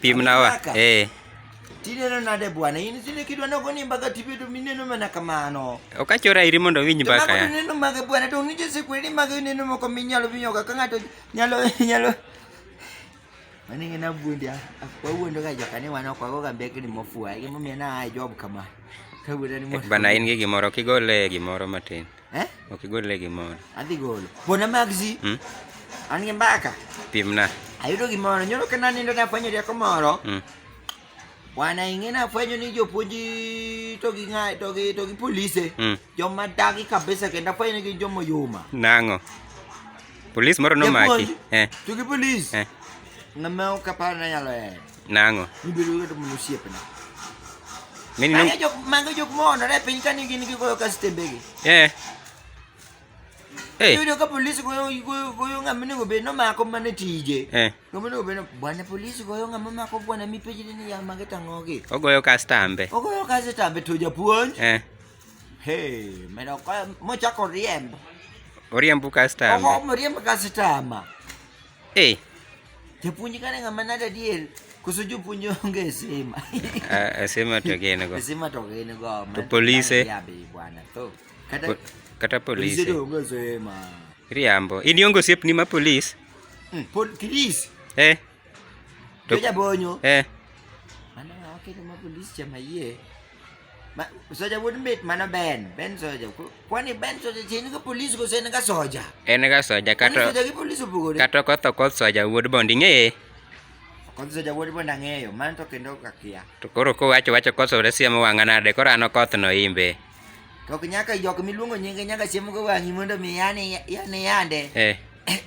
Pimnawa. Eh. Tineno nade bwana? In sile kidwa na goni mbaka tipe to mineno mana kamano. Okachora iri mondo winj mbaka. Kama tineno mage bwana to nije se kweli mage neno moko minyalo vinyo ka ngato nyalo nyalo. Mani ngena bundi akwa wuondo ga joka ni wana kwa goga mbeke ni mofua. Gimo mena ai job kama. Kawuoda ni mofua. Bana in gi gimoro kigole gimoro matin. Eh? Ok, gol lagi mau. Adi gol. Bona magzi. Hmm? Ani mbaka. Pimna. Ayudo gimoro, nyoro kana nindo na fwenyo dia komoro. Hmm. Wana ingena fwenyo ni jo puji to gi ngai to gi to gi police. Hmm. Jo madagi kabisa kenda fwenyo gi jo moyuma. Nango. Police moro no maki. Eh. To gi police. Eh. Ngamao kapana yalo eh. Nang'o? Ibedo ng'ato mondo osiepne. Many no. Mano jok mano jok moonore piny ka nigi nigi goyo kastembegi. Eh. Eh. Yudo ka polisi goyo goyo goyo ng'ama nego bed nomako mana tije. Eh. Ng'ama nego bed bwana polisi goyo ng'ama mako bwana mipeji ni ya mage tang'ogi. Ogoyo kastambe. Ogoyo kastambe to japuonj. Eh. Hey, meno kwa mochako riembo. Oriembo kastambe. Ogo moriembo kastambe. Eh. Japuonj kane ng'ama nade adier? Koso jopuonj onge e sima. Ah, sima to gin go. Sima to gin go. To polise. Ya be bwana. To kata kata polise. Polise to onge sima. Riambo. In iongo siep ni ma polis? Mm, pol polis. Eh. To jabonyo. Eh. Mana ng'awa kete ma polis chama yie. Ma, soja wuod mit mano Ben, Ben soja. Ku- Kwani Ben soja chi en ka polis kose en ka soja? en ga soja Kwani kata soja gi polis opogore? kata okotho koth soja wuod bond ing'eye Kod soja wuod bende ang'eyo, mano to kendo ok akia. to koro kowacho wacho koth soja siemo wang'a nade koro an okoth no imbe To ok nyaka jok miluongo nyinge nyaka siemo go wang'i mondo mi yane yane yande. eh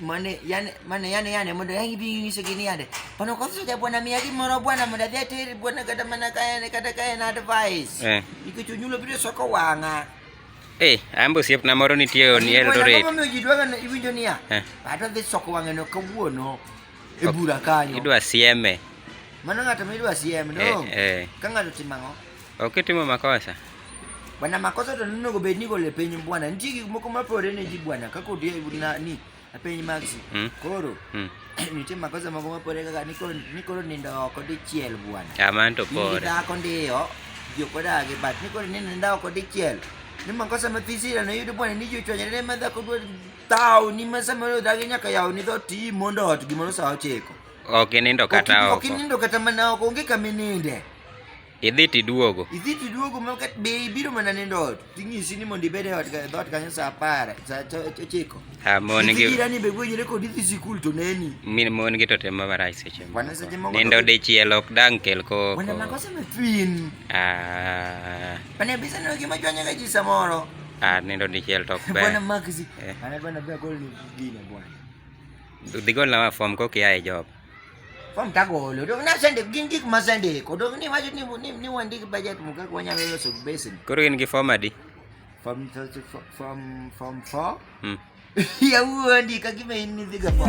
mane yane mane yane yane muda yangi bingi niso gini yade pano kwa sasa bwana miyagi moro bwana muda vya tiri bwana kata mana kaya ne kata kaya na advice eh ikuchunyulo bide soko wanga eh ambo siep na moro nitie on Eldoret mama mjidwaga na iwinjo niya eh ato dhi soko wanga no kawuono e bura kanyo idwa sieme mano ng'ato ma idwa sieme no eh, eh. ka ng'ato timang'o Okitimo makosa. Bwana makosa to neno go bedni go le piny bwana. Nitie gik moko ma pore ne ji bwana kaka odi na ni a piny maxi. Hmm? Koro. Hmm. Nitie makosa moko ma pore kaka ni koro ni koro nindo oko dichiel bwana. Aman to pore. Ni dhako ndiyo. Jo koda gi bat ni koro ni nindo oko dichiel. Ni makosa ma fisira na yudo bwana ni jo chwanyre ne ma dhako dwa tao ni ma sama yo dhagi nyaka yawo ni dho ti mondo ot gimoro sa ochiko. Ok nindo kata oko. Ok nindo kata mana oko onge kamininde. Idhi tiduogo. Idhi tiduogo ma kat be ibiro mana nindo ot. Ting'isi ni mondo ibed e ot e dhoot kanyo saa apar, saa ochiko. Ha mon gi. Idhi ni be gwenyre kod idhi sikul to neni. Min mon gi to tem ma marach seche moko. Wana seche moko. Nindo dichiel ok dang kel koko. Wana makosa me fin. Ah. Wana bisa no gima jwanya ga ji samoro. Ah, nindo dichiel to ok ber. Wana magzi. Wana bana be gol ni gina bwana. Udhi gol na form kokia e job. Fom tagolo. Dok na sende gin gik ma sende ko dok ni wacho ni ni ni wandi ki budget mo kaka wanyalo loso basin. Koro in gi form adi? Fom fom fom fo. Hmm. Ya wuondi ka gima in ni dhiga fom.